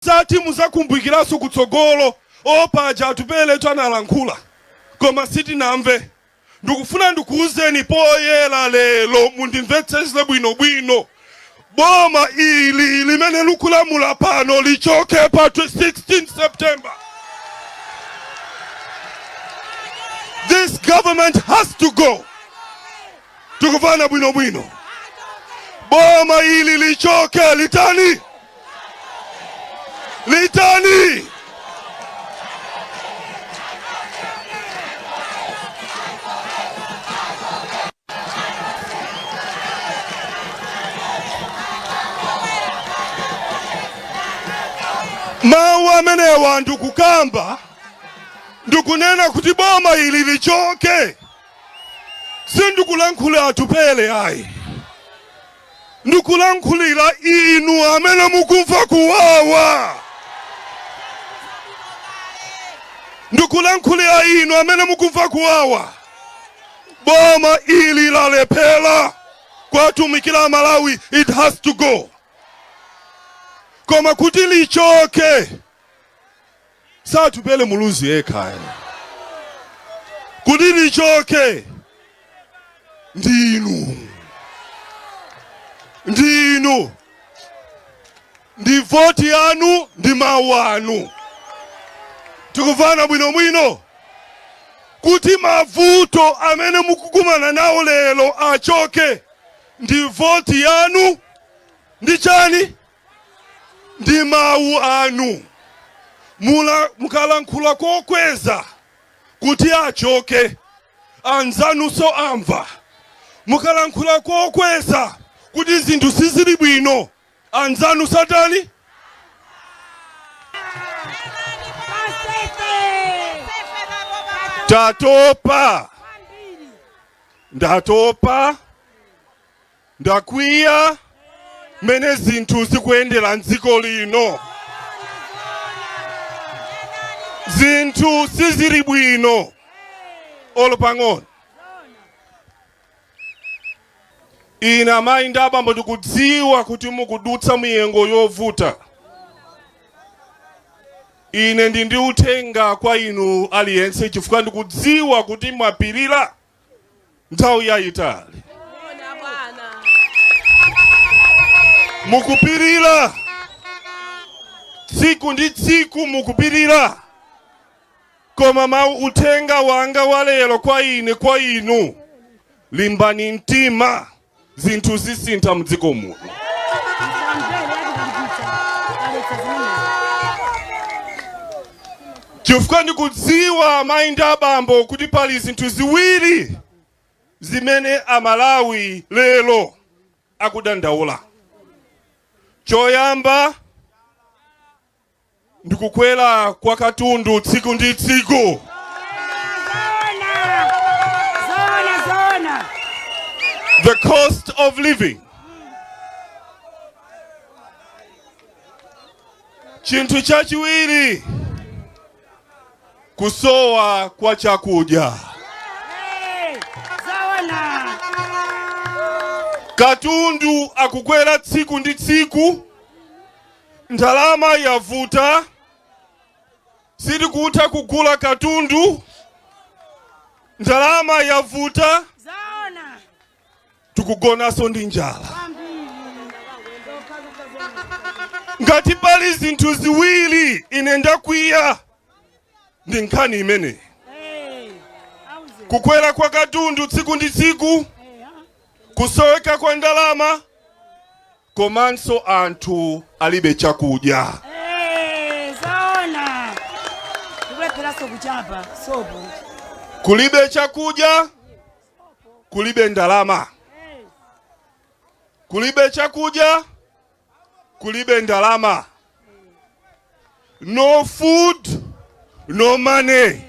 Zoti muzakumbukiranso kutsogolo or paja Atupeletu analankhula koma sitinamve ndikufuna ndikuuzeni poyera lero mundimvetsetse bwino bwino boma ili limene likulamula pano lichoke pa 16 September this government has to go Tikumvana bwino bwino, boma ili lichoke. Litani litani, mawu amenewa ndikukamba ndikunena kuti boma ili lichoke. Sindikulankhulira Atupele ayi, ndikulankhulira inu amene mukumva kuwawa, ndikulankhulira inu amene mukumva kuwawa. Boma ili lalephera kuwatumikira Amalawi, it has to go. Koma kuti lichoke Si Atupele Muluzi yekha ayi. Kuti lichoke ndi inu, ndi inu, ndi voti yanu, ndi mawu anu. Tikumvana bwino bwino kuti mavuto amene mukukumana nawo lero achoke ndi voti yanu ndi chani ndi mawu anu mukalankhula kokweza kuti achoke anzanunso amva mukalankhula kokweza kuti zinthu sizili bwino anzanunso atani ndatopa Ndakwiya mmene zinthu zikuyendera m'dziko lino. Zinthu sizili bwino olo pang'ono. Ine amayi ndi abambo ndikudziwa kuti mukudutsa miyengo yovuta. Ine ndili ndi uthenga kwa inu aliyense chifukwa ndikudziwa kuti mwapirira. nthawi yayitali mukupirira tsiku ndi tsiku mukupirira koma uthenga wanga walero kwa ine kwa inu limbani mtima zinthu zisintha mdziko muno. chifukwa ndikudziwa mayi ndi abambo kuti pali zinthu ziwiri zimene amalawi lero akudandaula choyamba ndi kukwera kwa katundu tsiku ndi tsiku the cost of living chinthu chachiwiri kusowa kwa chakudya katundu akukwera tsiku ndi tsiku Ndalama yavuta, sitikutha kugula katundu. Ndalama yavuta, tikugonanso ndi njala. Ngati pali zinthu ziwiri ine ndakwiya ndi nkhani imeneyi, kukwera kwa katundu tsiku ndi tsiku, kusoweka kwa ndalama komanso anthu alibe chakudya. Kulibe chakudya, kulibe ndalama, kulibe chakudya, kulibe ndalama. No food, no money.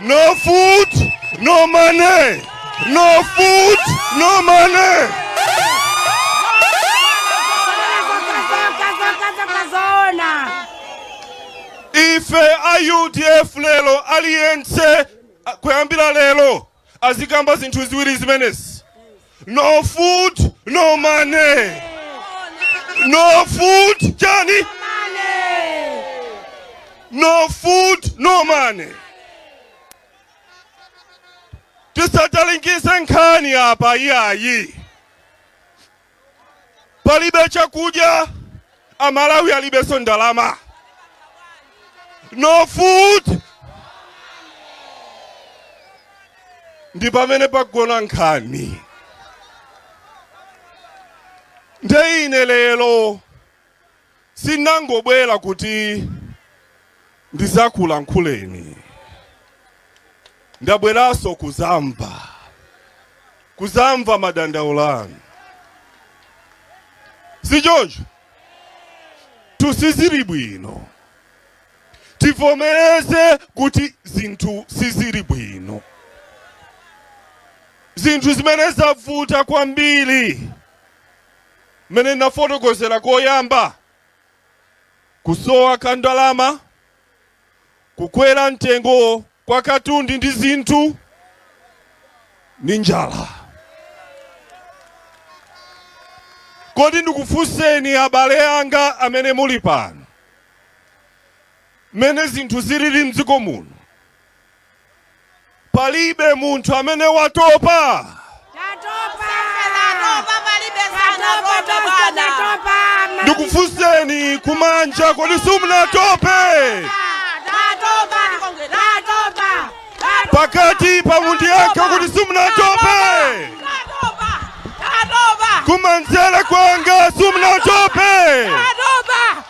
No food, no money. No food, no money. Ife a UDF lero aliyense kuyambira lero azikamba zinthu ziwiri zimenezi no food no money no food chani no food no money tisatalikise nkhani apa iyayi palibe chakudya amalawi alibenso ndalama no food ndi pamene pagona nkhani nde ine lero Sinangobwera kuti ndidzakulankhuleni, ndabweranso kudzamva, kudzamva madandaulo anu. Si choncho? Zinthu sizili bwino. Tivomereze kuti zinthu sizili bwino. Zinthu zimene zavuta kwambiri mmene ndinafotokozera koyamba, kusowa kwa ndalama, kukwera mtengo kwa katundu ndi zinthu, ndi njala. Kodi ndikufunseni abale anga amene muli pano, mmene zinthu zilili mdziko muno? Palibe munthu amene watopa. Tatopa. Tatopa palibe sanatope bwana. Tatopa. Ndikufunseni kumanja, kodi simunatope? Tatopa. Tatopa. Pakati pa munthu yake kodi simunatope. Tatopa. Tatopa. Kumanzere kwanga simunatope.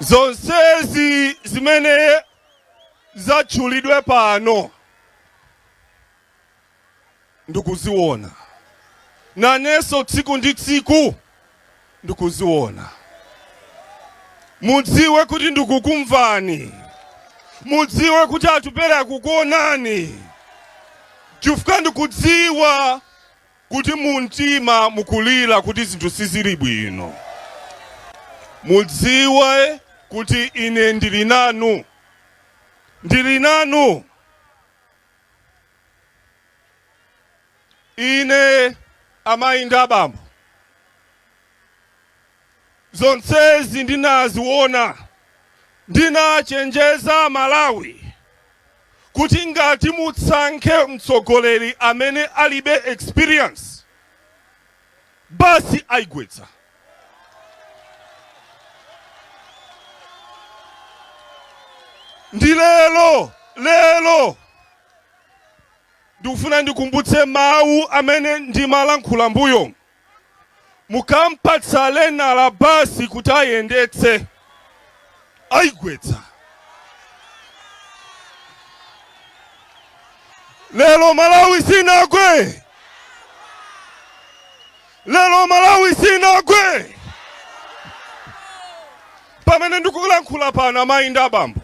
zonsezi zimene zatchulidwe pano ndikuziona nanenso tsiku ndi tsiku ndikuziona. Mudziwe kuti ndikukumvani, mudziwe kuti Atupele akukuonani, chifukwa ndikudziwa kuti mu mtima mukulira kuti zinthu sizili bwino. Mudziwe kuti ine ndili nanu, ndili nanu. Ine amayi ndi abambo, zonsezi ndinaziwona. Ndinachenjeza Amalawi kuti ngati mutsankhe mtsogoleri amene alibe experience, bus ayigwetsa. Nde lero lero. ndikufuna ndikumbutse mawu amene ndimalankhula mbuyo mukampatsa learner bus kuti ayendetse ayigwetsa lero malawi sinagwe lero malawi sinagwe pamene ndikulankhula pano amayi ndi abambo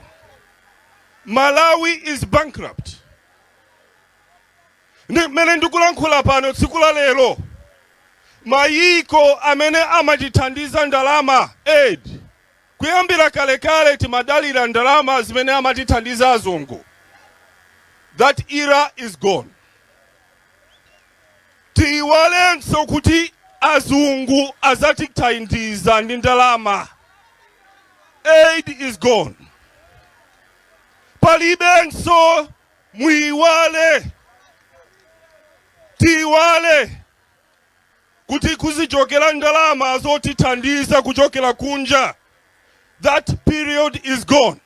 Malawi is bankrupt ndi mene ndikulankhula pano tsiku la lero mayiko amene amatithandiza ndalama aid kuyambira kalekale timadalira ndalama zimene amatithandiza azungu that era is gone Tiyiwalenso kuti azungu azatithandiza ndi ndalama. Aid is gone. Palibenso muyiwale, tiyiwale kuti kuzichokera ndalama zotithandiza kuchokera kunja, that period is gone.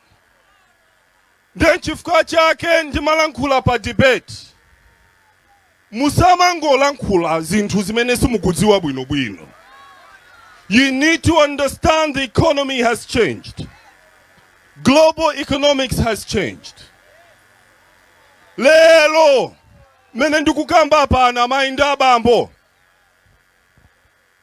Nde chifukwa chake ndimalankhula pa debate. Musamangolankhula zinthu zimene simukudziwa bwino bwino. You need to understand the economy has changed. Global economics has changed. Lero mene ndikukamba pana amayi ndi abambo.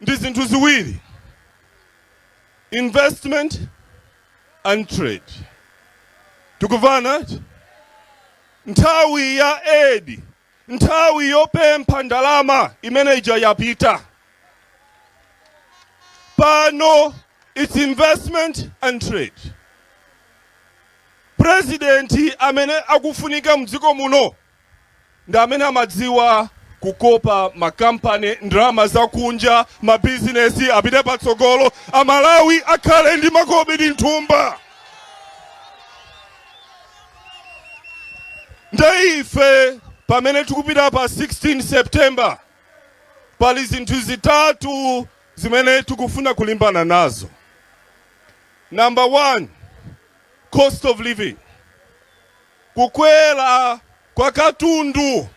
ndi zinthu ziwiri, investment and trade. Tikumvana? Nthawi ya aid, nthawi yopempha ndalama imene ija yapita. Pano it's investment and trade. President amene akufunika mdziko muno ndi amene amadziwa kukopa makampani, ndalama zakunja, mabizinesi apite patsogolo, a Malawi akhale ndi makobidi mthumba. Nde ife pamene tikupita pa 16 September pali zinthu zitatu zimene tikufuna kulimbana nazo. Number one, cost of living. Kukwera kwa katundu,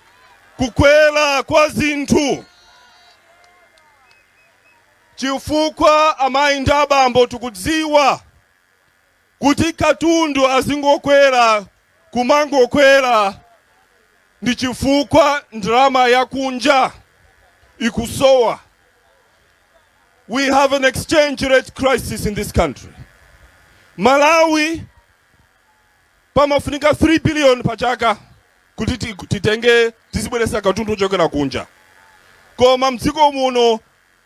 kukwera kwa zinthu. Chifukwa amayi ndi abambo tikudziwa kuti katundu azingokwera kumangokwera ndi chifukwa ndalama ya kunja ikusowa. We have an exchange rate crisis in this country. Malawi pamafunika 3 biliyoni pa chaka kuti titenge tizibweretsa katundu ochokera kunja koma mdziko muno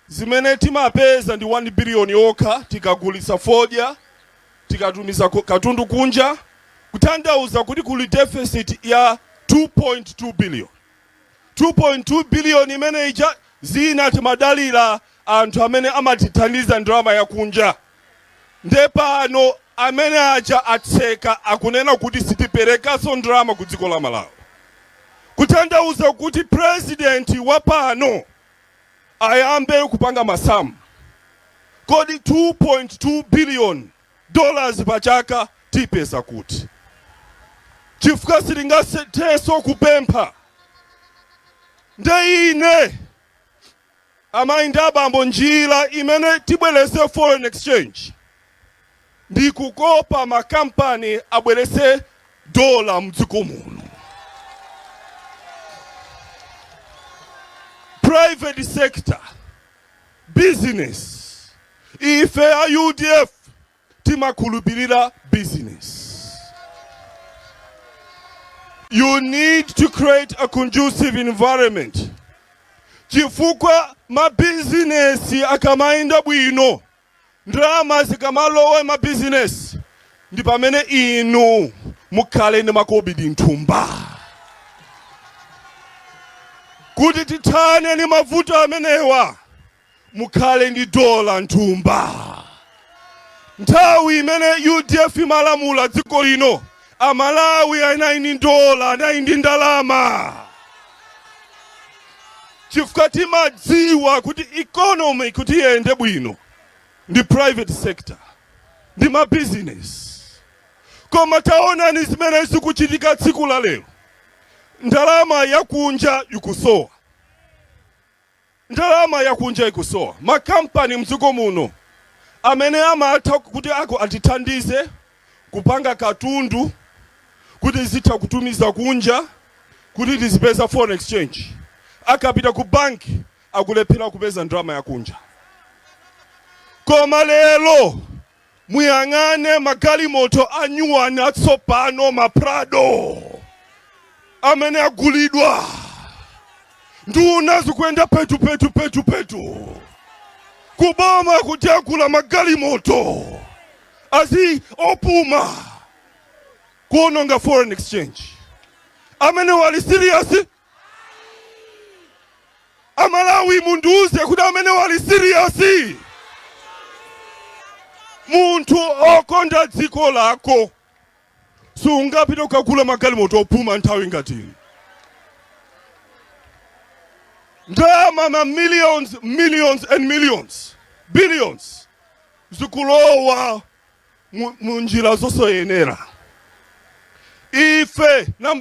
zimene timapeza ndi 1 biliyoni yokha tikagulitsa fodya, tikatumiza katundu kunja, kutanthauza kuti kuli deficit ya 2.2 biliyoni. 2.2 billion imene ija zina timadalira anthu amene amatithandiza ndalama yakunja nde pano amene aja atseka akunena kuti sitiperekanso ndalama ku dziko la Malawi kutanthauza kuti president wa pano ayambe kupanga masamu kodi 2.2 billion dollars pa chaka tiipeza kuti? Chifukwa sitingathenso kupempha. Nde ine, amayi ndi abambo, njira imene tibweretse foreign exchange ndi kukopa makampani abweretse dollar m'dziko muno. Private sector. business ife a udf timakhulupirira business you need to create a conducive environment chifukwa mabizinesi akamayenda bwino Ndalama zikamalowa mma bizinesi ndi pamene inu mukhale ndi makobidi nthumba. Kuti tithane ndi mavuto amenewa mukhale ndi dola nthumba. Nthawi imene udf imalamula dziko lino A Malawi anali ndi dola, anali ndi ndalama chifukwa timadziwa kuti economy kuti iyende bwino ndi private sector ndi mabizinesi. Koma taonani zimene zikuchitika tsiku la lero, ndalama yakunja ikusowa. Ndalama yakunja ikusowa. Ma kampani mdziko muno amene amatha kuti ako atithandize kupanga katundu kuti tizitha kutumiza kunja kuti tizipeza foreign exchange akapita ku banki akulephera kupeza ndalama yakunja. Koma lero. Muyang'ane magalimoto anyuwani atsopano, ma Prado amene agulidwa. Nduna zikuyenda petu petu petu petu kuboma kuti agula magalimoto azi opuma kuononga foreign exchange. Amene uli serious amalawi mundiuze kuti amene uli siriyasi munthu okonda dziko lako sungapite kukagula magalimoto opuma nthawi ngati ndalama ma millions millions and millions billions zikulowa mu- mu njira zosayenera ife namba